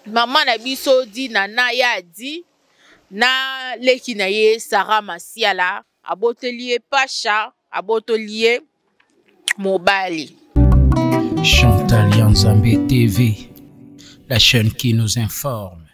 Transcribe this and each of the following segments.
mama na biso di nana ye adi na leki na ye sara masiala aboteli ye pasha abotoli ye mobali chantal ya nzambe tv la chaîne qui nous informe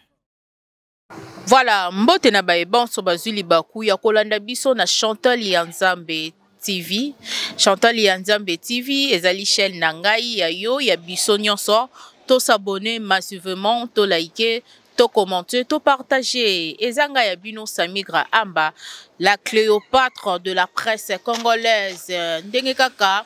Voilà, mbote na baye banso bazwi libaku ya kolanda biso na Chantal ya Nzambe TV. Chantal ya Nzambe TV ezali chaîne na ngai ya yo ya biso nyonso. To s'abonner massivement, to liker, to commenter, to partager. Ezanga ya bino Samigra Amba, la Cléopâtre de la presse congolaise. Ndenge kaka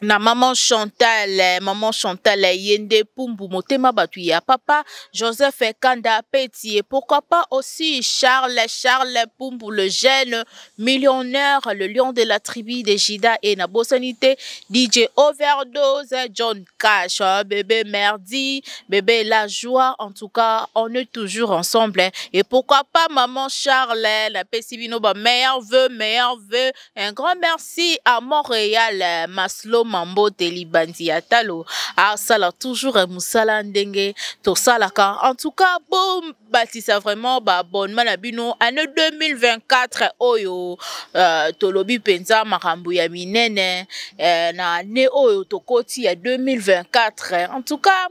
na maman chantal eh, maman chantal eh, ye nde pumbu motema bato ya papa joseph kanda petie pourquoi pas aussi charles charles pumbu le jeune millionnaire le lion de la tribu de jida e na bosani te dj overdose john cash eh, bébé merdi bébé la joie en tout cas on est toujours ensemble et pourquoi pas maman charles napesi bino ba meilleur vœu meilleur vœu Un grand merci à Montréal, euh, Maslo Mambo Telibandi Atalo, à Sala toujours euh, Moussala Ndenge, Tosalaka. En tout cas, bon bâtisseur vraiment, bah, bon manabino, année 2024, oyo, euh, Tolobi Penza, Marambo ya Minene, euh, na année oyo, Tokoti ya 2024. En tout cas,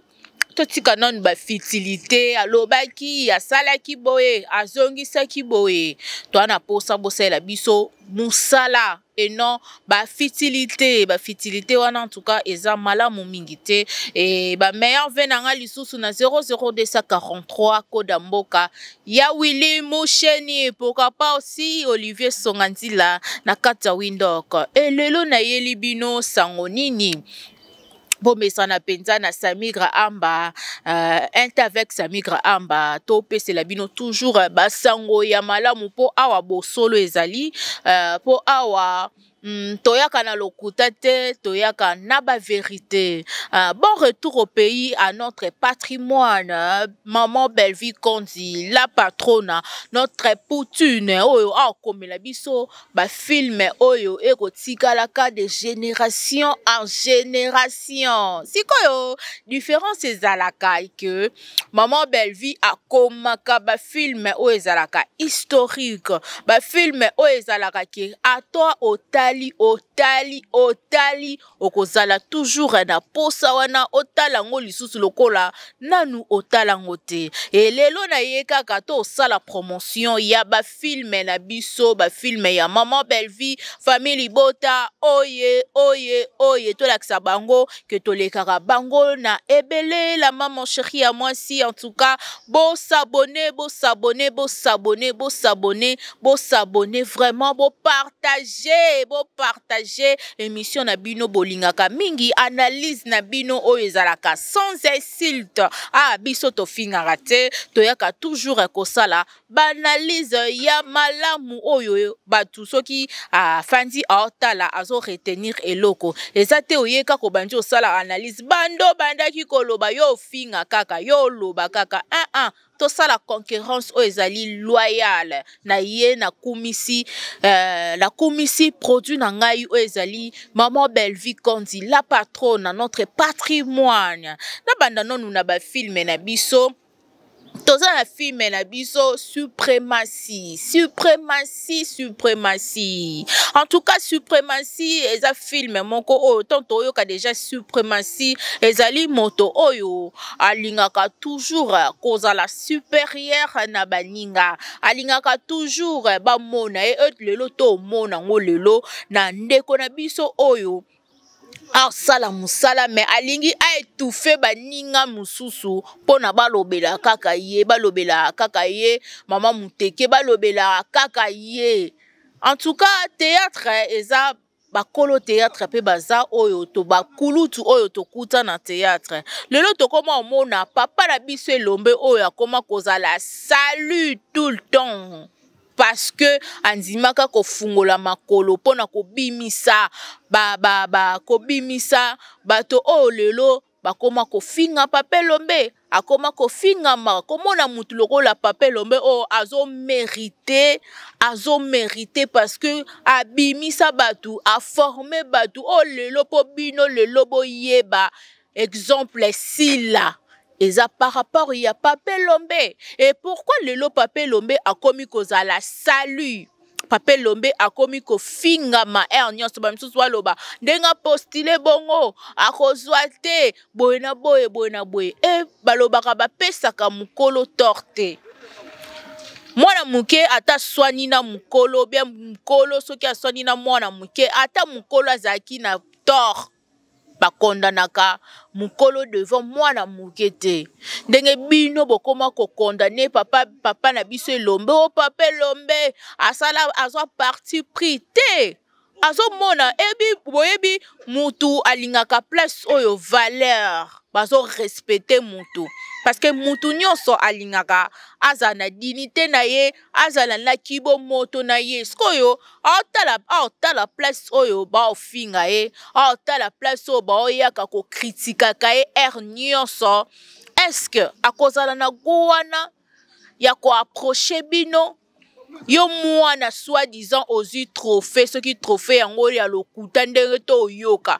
totika nanu bafitilité alobaki asalaki boye azongisaki boye toa na mposa bosalela biso mosala et non bafitilité bafitilité wana en tout cas eza malamu mingi te e bameilleur ve na ngai lisusu na 00243 koda mboka ya willi musheni pourquoi pas aussi olivier songa nzila na kati ya windok e lelo nayeli bino sango nini bomesana mpenza na samigra amba uh, inte avec samigra amba topesela bino toujours eh, basango ya malamu mpo awa bosolo ezali eh, mpo uh, awa Mm, toyaka na lokuta te toyaka na baverité uh, bon retour au pays à notre patrimoine uh, maman bellevie konzi la patrona notre poutine oyo aokomela biso ba filme oyo ekotikala ka de génération en génération sikoyo différence ezalaka que maman bellevie akomaka ba filme oyo ezalaka historique ba filme oyo ezalaka ke ata otali otali otali okozala toujours na posa wana otala yango lisusu lokola nanu otala yango te e lelo na ye kaka tosala promotion ya bafilme na biso bafilme ya maman bellevie famille libota oye oye oye tolakisa bango ke tolekaka bango na ebele la maman cheri ya mwasi en tout cas bosabone bosabone bosabone bosabone bosabone vraiment bopart partage bo partage émission na bino bolingaka mingi analyse na bino oyo ezalaka sans insulte ah biso tofingaka te toyaka toujours kosala baanalyse ya malamu oyo bato soki afandi ah, aotala azo retenir eloko eza te oyeka kobandi osala analyse bando bandaki koloba yo ofinga kaka yo oloba kaka ah, ah, tosala concurrence oyo ezali loyale na ye nakumisi euh, nakumisi produit na ngai oyo ezali maman bellevie kondi la patrone na notre patrimoine nabanda nanu na bafilme na biso toza na filme na biso suprematie suprematie Suprematie, suprematie. En tout cas, suprematie eza film moko oyo tant toyoka déjà suprematie ezali moto oyo alingaka toujours kozala supérieur na baninga. Alingaka toujours bamona ye lelo to mona ngo lelo na ndeko na biso oyo asala mosala me alingi aetufe baninga mosusu mpona balobela kaka ye balobela kaka ye mama moteke balobela kaka ye en tout cas théâtre eza bakolo théâtre mpe baza oyo to bakulutu oyo tokuta na théâtre lelo tokoma omona papa na biso elombe oyo akoma kozala salut tout le temps parce que andimaka kofungola makolo mpo na kobimisa ba, ba, ba, kobimisa bato oyo oh, lelo bakoma kofinga pape lombe akoma kofingama komona motu lokola pape lombe oyo oh, azomerite azomerite parce que abimisa bato aforme bato oyo oh, lelo mpo bino lelo boyeba exemple sila eza par rapport ya pape lombe et pourquoi lelo pape lombe akomi kozala salut pape lombe akomi kofingama aire nyonso bamisusu baloba ndenge apostile bongo akozwa te boye na boye boye na boye e balobaka bapesaka mokolo tor te mwana moke ata aswani na mokolo bya mokolo soki aswani na mwana moke ata mokolo azalaki na tor ba condamnaka mukolo devant mwana muke te ndenge bino bokoma kokondane papa papa na biso elombe o oh, papa elombe asala azwa parti pris te azomona ebi boyebi mutu alingaka place oyo valeur bazorespecte mutu parce que mutu nyonso alingaka azala na dignité na ye azala na kibomoto na ye sikoyo aotala aotala place oyo baofinga ye aotala place oyo baoyaka kokritikaka ye aire nyonso eske akozala na go wana ya koaproche bino yo mwana soit disant ozwi trophée soki trophée yango oyo ya lokuta ndenge to oyoka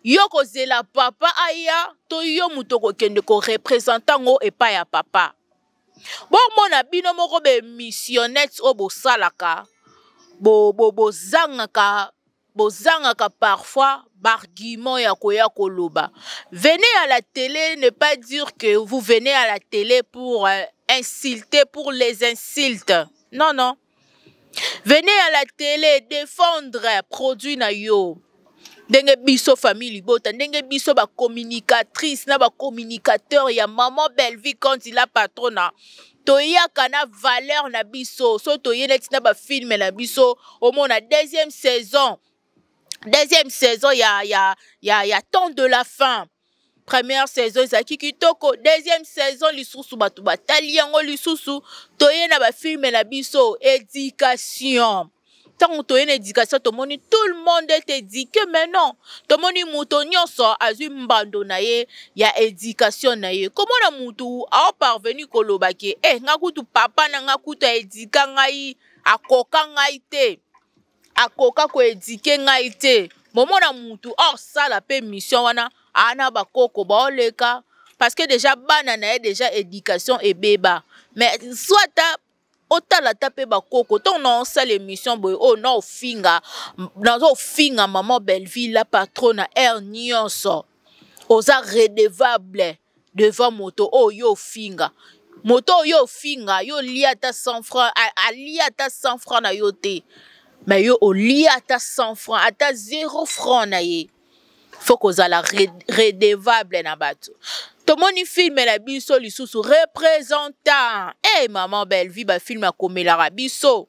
yo kozela papa aya to yo moto okokende korepresente yango epai ya papa bomona bino moko bemissionnete oyo bosalaka bozangaka bo, bo bozangaka parfois bargument ya koya koloba venez à la télé ne pas dire que vous venez à la télé pour euh, insulter pour les insultes non non Venez à la télé défendre produit na yo. ndenge biso famille libota ndenge biso bacommunicatrice na bacommunicateur ya maman bellevie conti la patrona toyaka na valeur na biso so toye neti na bafilme na biso omona deuxième saison deuxième saison ya ya ya ya temps de la fin première saison ezalaki kitoko deuxième saison lisusu bato batali yango lisusu toye na bafilme na biso éducation ntango toye na éducation tomoni tout le monde est éduqué mais non tomoni moto nyonso azwi mbando na ye ya éducation na ye komona motu aoparvenu koloba ke e eh, nga kutu papa na nga kutu aedika ngai akoka ngai te akoka ko eduquer ngai te momona mutu osala mpe mission wana ana bakoko baoleka parce que déjà bana na ye déjà éducation ebeba mais soit ta otala ata mpe bakoko ntongo na osala émission boye oyo oh, na ofinga naza ofinga maman belleville la patro na aire nyonso oza redevable devant moto oyo yo ofinga moto oyo yo ofinga yo olia ata 100 franc alia ata 100 franc na yo te mais yo olia ata 100 franc ata 0 franc na ye faut kozala redevable na bato tomoni filme na biso lisusu représentant e hey, maman bellevie bafilme akomelaka biso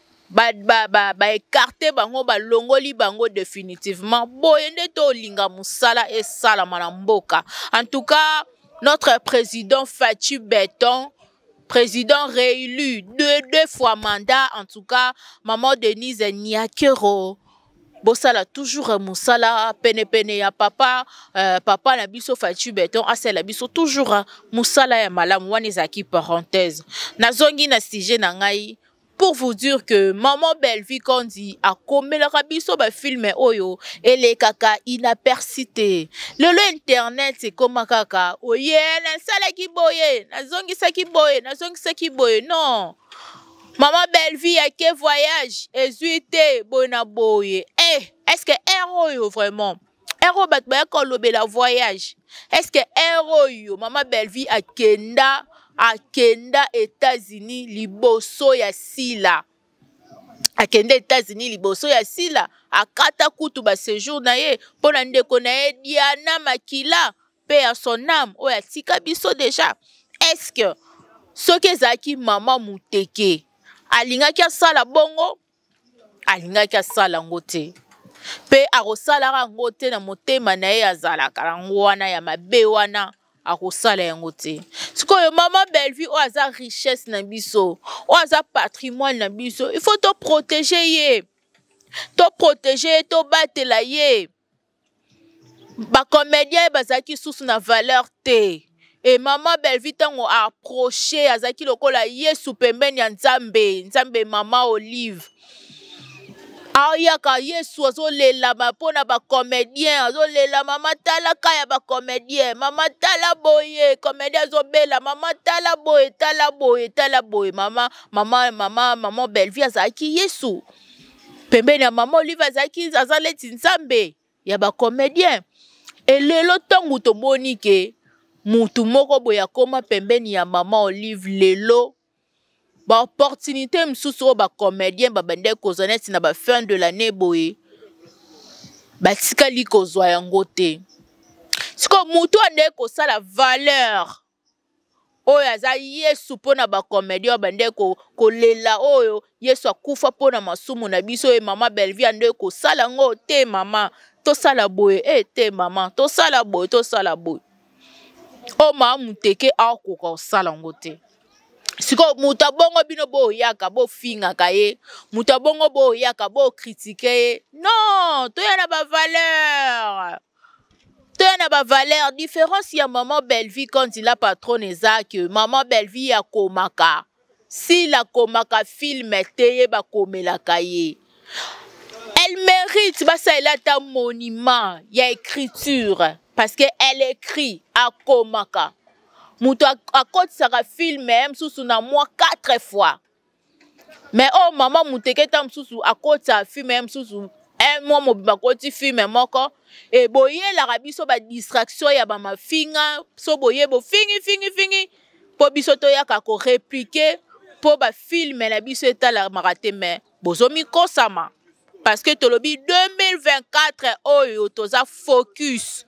ba, ba, ba, ba écarte bango balongoli bango définitivement boye nde tolinga mosala esalama na mboka en tout cas notre président faci beton président réélu deux, deux fois mandat en tout cas maman denise niakero bosala toujours mosala penepene ya papa euh, papa na biso faci beton asala biso toujours mosala ya malamu wana ezalaki parenthèse nazongi na sujet na ngai pour vous dire que maman Bellevue Kondi akomelaka biso ba filme oyo elekaka inaperçu te lelo internet ekoma kaka oye nasalaki boye nazongisaki boye nazongisaki boye non mama Bellevue ake voyage ezwi te boye na boye eh, est ce que ere oyo vraiment heure oyo bato bayaki kolobela voyage est ce que heure oyo mama bellevie akenda akenda états-unis liboso ya sila akenda états-unis liboso ya sila akata kutu basejour na ye mpo na ndeko na ye diana makila mpe ya son ame oyo atika biso deja est ce que soki ezalaki mama moteke alingaki asala bongo alingaki asala yango te mpe akosalaka yango te na motema na ye azalaka yango wana ya mabe wana akosala yango te sikoyo mama bellevue oyo aza richesse na biso oyo aza patrimoine na biso il faut toprotege ye toprotege ye tobatela ye to ba comédien bazalaki susu na valeur te e mama bellevie ntango approche azalaki lokola yesu pembeni ya nzambe nzambe mama olive ayaka yesu azolelama mpo na bacomédien azolela mama tala ka ya bacomédien mama tala boye comédien azobela mama tala boye tala boye tala boye mama mama mama mama bellevie azalaki yesu pembeni ya mama olive azalaki aza leti nzambe ya bacomédien elelo ntango tomoni ke mutu moko boye akoma pembeni ya mama olive lelo baopportunité mosusu oyo bacomédien babandaki kozwa neti na bafin de l'année boye batikali kozwa yango te sikoyo motu andeki kosala valeur oyo aza yesu mpo na bacomedien oyo bande kolela oyo yesu akufa mpo na masumu na biso ye mama belvie ande kosala yango te mama tosala boye e te mama tosala boye tosala boye oyo mama moteke akoka kosala yango te sikoyo moto abongo bino boyaka bofingaka ye moto abongo boyaka bokritike ye non toya na bavaleur toya na ba valeur différence ya maman bellevie kanzi la patronne eza que maman bellevie akomaka sila akomaka filme te ye bakomelaka ye elle mérite basalela ata monument ya écriture parce que elle écrit akomaka moto akotisaka filme mosusu na mwa 4 fois mais oyo oh, mama muteke ntango mosusu akotisa filme ye mosusu un mois mobimba akoti filme moko e boyelaka biso badistraction ya bamafinga so boye bofingi fingi fingi mpo biso toyaka koreplike mpo bafilme na biso etalamaka te mai bozomikosama parce que tolobi 2024 oyo toza focus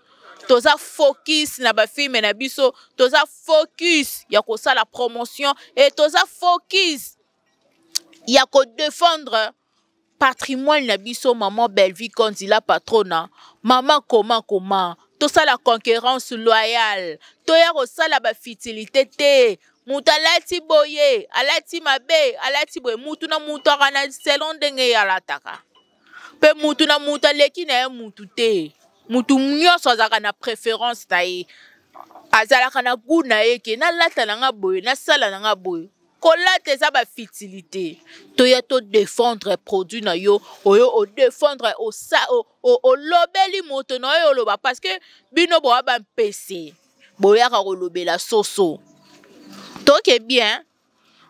toza focus na bafilme na biso toza focus ya kosala promotion e toza focus ya kodefendre patrimoine na biso maman bellevie konzila patrona mama koma koma tosala concurrence loyale toya kosala bafutilité te moto alati boye alati mabe alati boye mutu na mutu aka na selon ndenge ye alataka mpe mutu na mutu aleki na ye mutu te mutu nyonso azalaka na préférence na ye azalaka na gout na ye ke nalata na nga boye nasala na nga boye kolata eza bafitilité toya todefendre produit na yo oyo odefendre olobeli moto na oyo oloba parce que bino boya bampese boyaka kolobela soso toke bien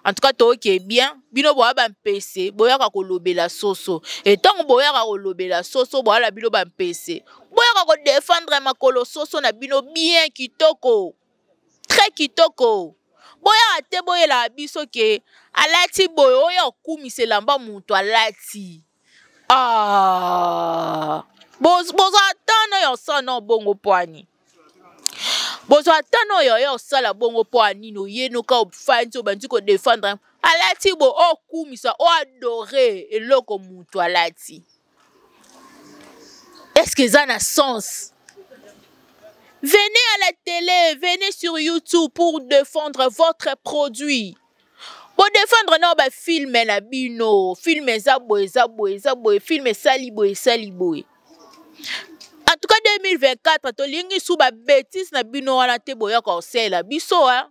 en tout cas toke bien bino boya bampese boyaka kolobela soso e ntango boyaka kolobela soso boya na bino bampese boyaka kodefendre makolo soso na bino bien kitoko très kitoko boyaka te boyelaka biso ke alati boye oyo akumisa elamba moto alati Ah, boza ata na yo sa na bongo pwani bozwa ata na oyo oye osala bongo mpo ya nini oyenoka ofandi obandi kodefendre alati bo okumisa oh, oadore oh, eloko motu alati estce eza na sens venez à la télé venez sur youtube pour défendre votre produit bodefendre nao bafilme na bino filme eza boye eza boye eza boye filme esali boye esali boye en tout cas 2024 tolingi su babetise na bino wana te boya kosalela biso a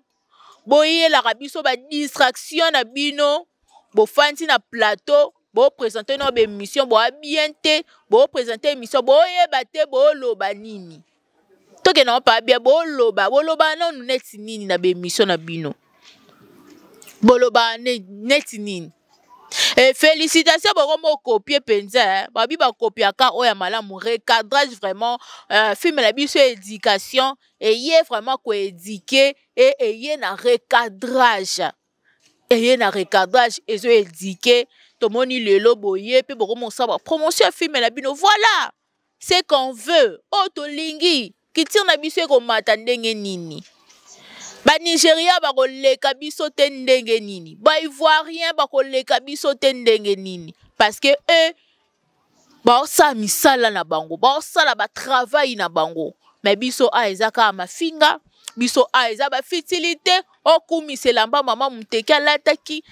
boyelaka biso badistraction na bino bofandi na plateau bopresente nao baémission boya bien te bopresente émission boyeba te boloba nini tokende yango pabia boloba boloba nanu neti nini na baemission na bino boloba neti nini e, félicitation boko mokopie mpenza eh. babi bakopiaka oyo ya malamu recadrage vraiment uh, filme na biso ya éducation eye vraiment koédike e eye na recadrage eye na recadrage ezo édike tomoni lelo boye mpe bokomosaba promotion ya filme na bino voilà ce qu'on veut oyo oh, tolingi kitire na biso ekomata ndenge nini banigeria bakoleka biso te ndenge nini baivoirien bakoleka biso te ndenge nini parce que eux baosala misala na bango baosala batravai na bango me biso a eza kaka mafinga biso a eza bafitili te okumisa elamba mama moteki alataki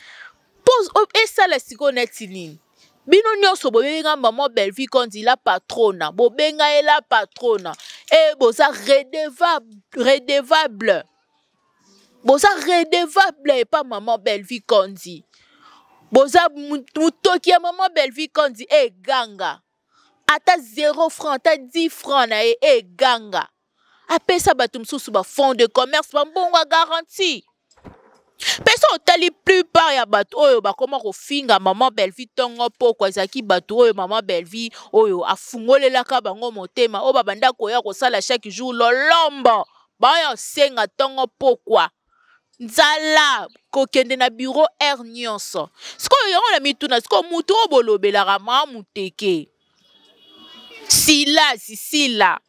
po esala sikoyo neti nini bino nyonso bobenga maman bellevue kondi la patrona bobenga ye la patrona e boza redevable, redevable. boza redevable epa maman bellevue kondi boza motoki ya maman bellevue kondi eganga ata 0 franc ata 10 franc na ye eganga e apesa bato mosusu bafond de commerce bambongo ya garantie mpe so otali plupart ya bato oyo bakoma kofinga mama bellevie ntongo mpoko ezalaki bato oyo mama bellevie oyo afungolelaka bango motema oyo babanda koya kosala chaque jour lolombo baoyo osenga ntongo mpokwa nzala kokende na biro aire nyonso sikoyo yango na mituna sikoyo moto oyo bolobelaka maa moteke silasi sila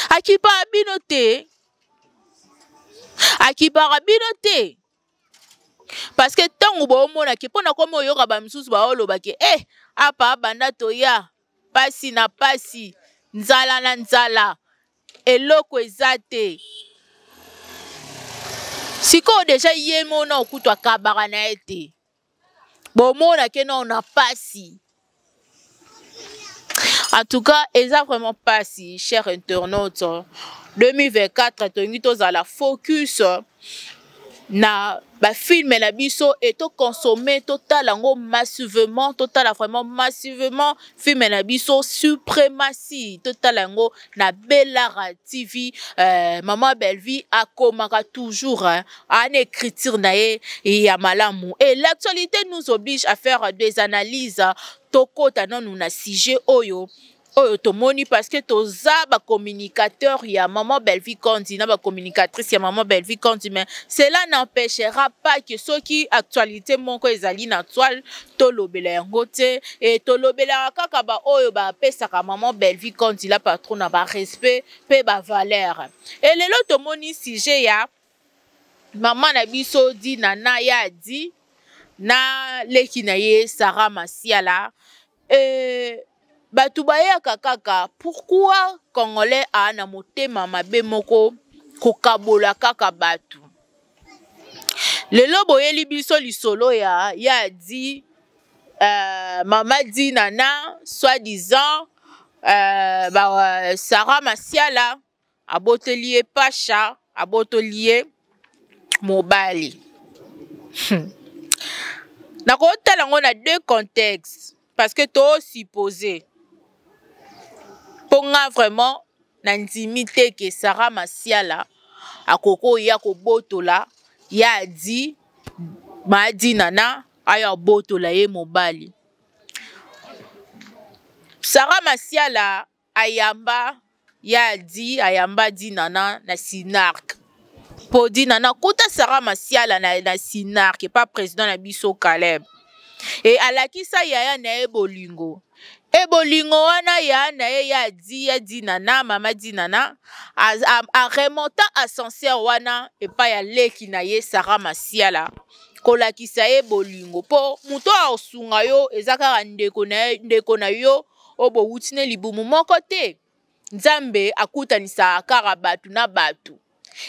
akipaka bino te akipaka bino te parce que ntango bomona ke mpo na komi oyoka bamisusu baoloba ke e eh, apa banda toya mpasi na mpasi nzala na nzala eloko eza te sikoyo deja ye mona okutu akabaka na ye te bomona ke nao na pasi en tout cas eza vraiment pasi cher internaute 2024 tolingi tozala focus na bafilme na biso e toconsomme totala yango massivement totala vraiment massivement filme na biso suprematie totala yango na belara tv euh, mama bellevie akomaka toujours hein, ana écriture na ye ya malamu et l'actualité nous oblige à faire des analyses tokota nanu na sujet oyo oyo tomoni parce que toza ba communicateur ya maman Bellevue Kondi na ba communicatrice ya maman Bellevue Kondi mais cela n'empêchera pas que soki actualité moko ezali na toile tolobela yango te e tolobelaka kaka baoyo bapesaka maman bellevie conti la patron na barespect mpe bavalere e lelo tomoni sujet ya mama na biso di nana ye adi na leki na ye sara masiala e Bato bayaka kaka pourquoi congolais a na motema mabe moko kokabola kaka bato lelo boyeli biso lisolo ya ya di euh, mama di nana soit disant euh, ba, euh, sara masiala aboteli ye pasha abotoli ye mobali hmm. nakotala yango na deux contexte parce que tosuppose mpo nga vraiment nandimi te ke sara masiala akoki koya kobotola ye adi maadi nana aya abotola ye mobali sara masiala ayamba ya di ayamba di nana na sinarc mpo di nana kuta sara masiala na, na sinarc epa président na biso caleb e alakisa yaya na ye bolingo e bolingo wana ya na ye ya di ya dinana mama dinana aremonta ascenseur wana epai ya leki na ye sara masiala kolakisa ye bolingo mpo moto aosunga yo eza kaka ndeko na, ndeko na yo oyo bowuti ne libumu moko te nzambe akutanisaka kaka bato na bato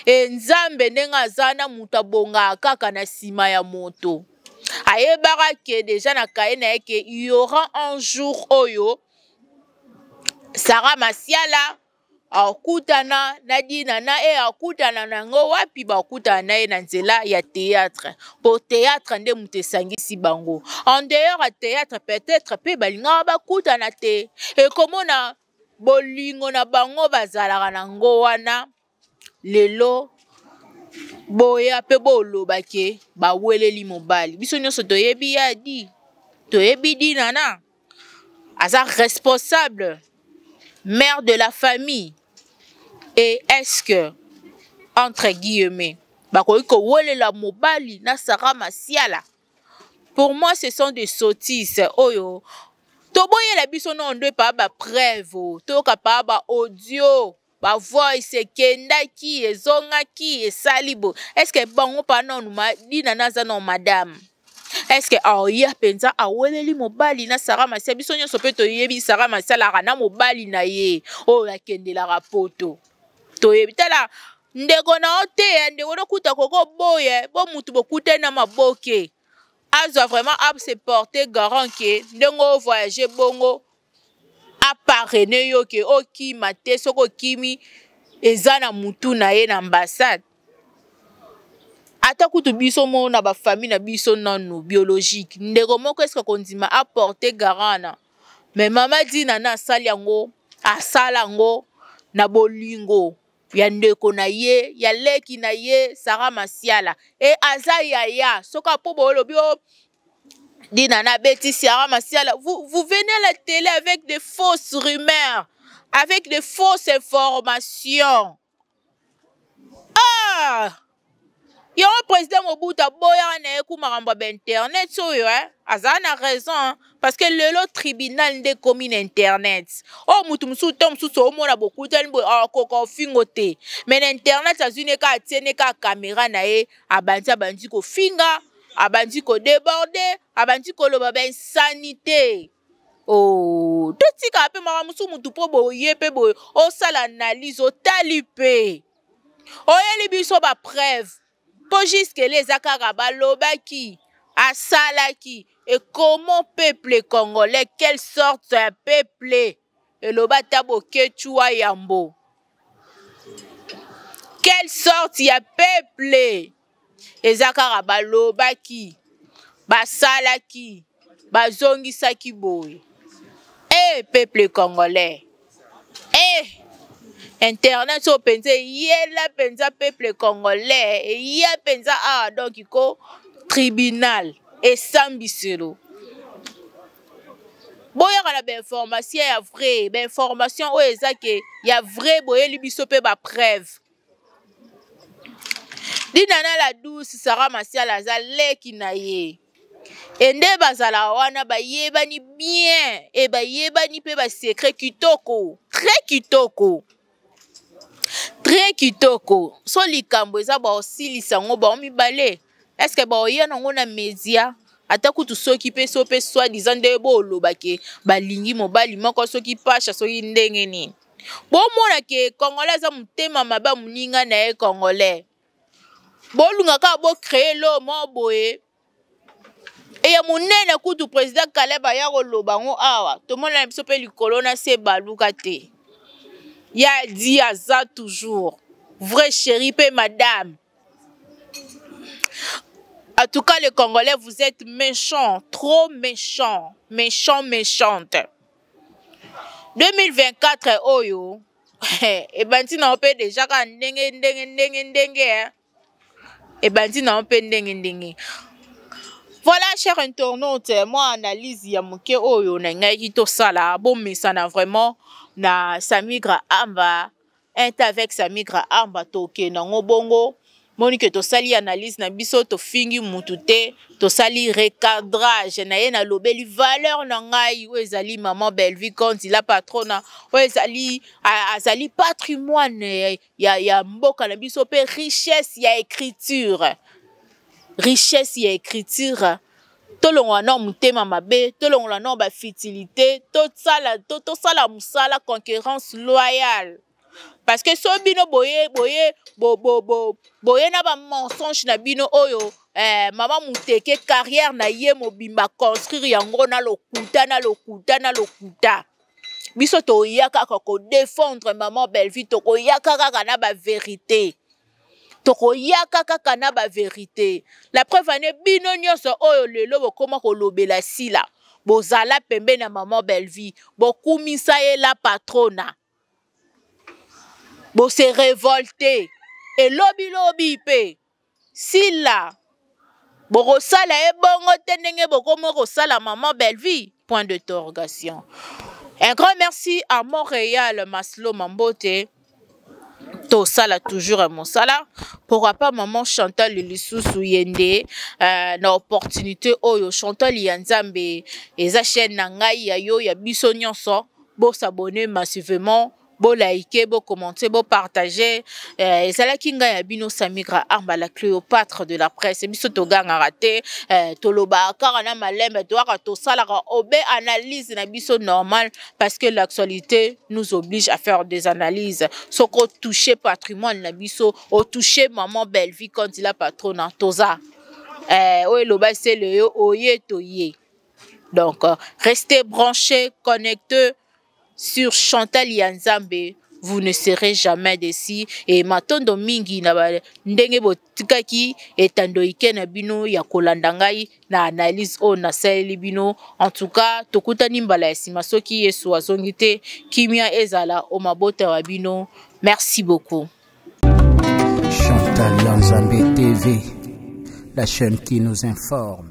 e nzambe ndenge aza na moto abongaka kaka na nsima ya moto ayebaka ke deja na kaye na ye ke yaura un jour oyo sara masiala akutana na dina na ye akutana na yango wapi bakutana na ye na nzela ya théâtre mpo théâtre nde moto esangisi bango en dehors ya théâtre peut-être mpe balingaka bakutana te ekomona bolingo na bango bazalaka na yango wana lelo boya mpe boloba ke baweleli mobali biso nyonso toyebi ya di toyebi dinana aza responsable mère de la famille et est-ce que entre guillemets bakoki kowelela mobali na sara masiala pour moi ce sont des sottises oyo toboyela biso noo nde paa bapreuve toyoka paa baaudio ba voice ekendaki ezongaki esali bo eske bango pa nanu dina naza nao madame eske aoya oh, mpenza aweleli mobali na sara masia biso nyonso mpe toyebi sara masialaka na mobali na ye oyo oh, akendelaka poto toyebi tala ndeko na yo te eh, ndeko nokuta koko boye eh, bo motu bokutani na maboke azwa vraiment ase porte garant ke ndenge ovoyage bongo aparene yo ke okima oh, te soki okimi eza na mutu na ye na ambassade ata kutu biso moko na bafamille na biso nanu biologique ndeko moko eske kondima aporte garant na me mama dina na asali yango asala yango na bolingo ya ndeko na ye ya leki na ye sara masiala e aza yaya soki apo boolobi o oh, Dina na Betty Ciara Masiala, vous, vous venez à la télé avec des fausses rumeurs, avec des fausses informations. Ah! yango président mobutu aboyaka na ye ku makambo ya bainternet oyo eh? azala na raison parce que lelo tribunal nde ekomi na internet oyo oh, motu mosusu ntango mosusu omona bokutani boye akoka ah, ofingo te mais na internet azwi ne kaka atie ne kaka kamera na ye abandi abandi kofinga abandi ko deborde abandi koloba ba insanite oh, totika mpe makambo mosusu motu mpo boye mpe boye osala analyse otali mpe oyeli biso bapreuve mpo juskele eza kaka balobaki asalaki et comment peuple congolais quelle sorte ya peuple eloba ata bokecua yambo quelle sorte ya peuple eza kaka balobaki basalaki bazongisaki boye e eh, peuple congolais e eh, internet oyo mpenza eyela mpenza peuple congolais eya mpenza awa ah, donk ko tribunal esambiselo boyaka na bainformation ya vrai bainformation oyo eza ke ya vrai boyeli biso mpe bapreuve dinana la douce sara masiala aza leki na ye e nde bazalaka wana bayebani bien e bayebani mpe basekre kitoko très kitoko très kitoko so likambo eza baosilisa yango bango mibale eske baoya nango na media ata kutu soki mpe so mpe soi disant nde boloba ke balingi mobali moko soki pasha soki ndenge nini bomona ke congolais aza motema mabe ya moninga na ye congolais bolunga kaka bocreye lo mo boye eya monene kutu président kaleb aya koloba yango awa tomonana biso mpe likolo na se baluka te ya di aza toujours vrai chéri mpe madame En tout cas, les Congolais, vous êtes méchants, trop méchants, méchants, méchantes. 2024 oyo ebandi na yo mpe deja kaka ndenge ndenge ndenge ndenge ebandi na yo mpe ndenge ndenge voilà cher internaute mwa analyse ya moke oyo nalingaki tosala bomesana vraiment na samigra amba un ta avec sa migra armba toke nango bongo moni ke tosali analyse na biso tofingi mutu te tosali recadrage na ye nalobeli valeur na ngai oyo ezali maman bellevue conti la patrona oyo ezali azali patrimoine ya, ya mboka na biso mpe richesse ya écriture richesse ya écriture tolongola nao motema mabe tolongola nao bafutilité tosala to, to, to mosala concurrence loyale parce que so bino boye boye bo, bo, bo, boye na bamensonge na bino oyo eh, mama moteke carrière na ye mobimba construire yango na lokuta na lokuta na lokuta biso toya kaka kodefendre mama bellevue tokoyaka kaka na baverité tokoyaka kaka na baverite la preuve ane bino nyonso oyo lelo bokoma kolobela sila bozala pembeni ya mama bellevie bokumisa ye la patrona bose revolte elobilobi mpe sila bokosala ye bongo te ndenge bokomi kosala maman bellevie point de torgation un grand merci à montréal maslo mambote tosala toujours ya mosala pourquoi pas maman chantal lisusu ye nde uh, na opportunité oyo chantal ya nzambe eza chaîne na ngai ya yo ya biso nyonso bosabone massivement bo liker, bo commenter, bo partager. Euh, et ça la kinga ya bino Samigra Arma la Cléopâtre de la presse. Biso to ganga raté, euh, to loba kara na malembe, to aka to sala ka obe analyse na biso normal parce que l'actualité nous oblige à faire des analyses. Ce qu'on touche patrimoine na biso, au toucher maman Bellevue quand il a patronne toza. Euh, oye loba c'est le oye to ye. Donc, euh, restez branchés, connectez. sur Chantal ya Nzambe vous ne serez jamais déçu et matondo mingi na ba ndenge botikaki etando ike na bino ya kolanda ngai na analyse oyo nasaleli bino en tout cas tokutani mbala ya nsima soki yesu azongi te kimia ezala o mabota ya bino merci beaucoup Chantal Yanzambe TV, la chaîne qui nous informe.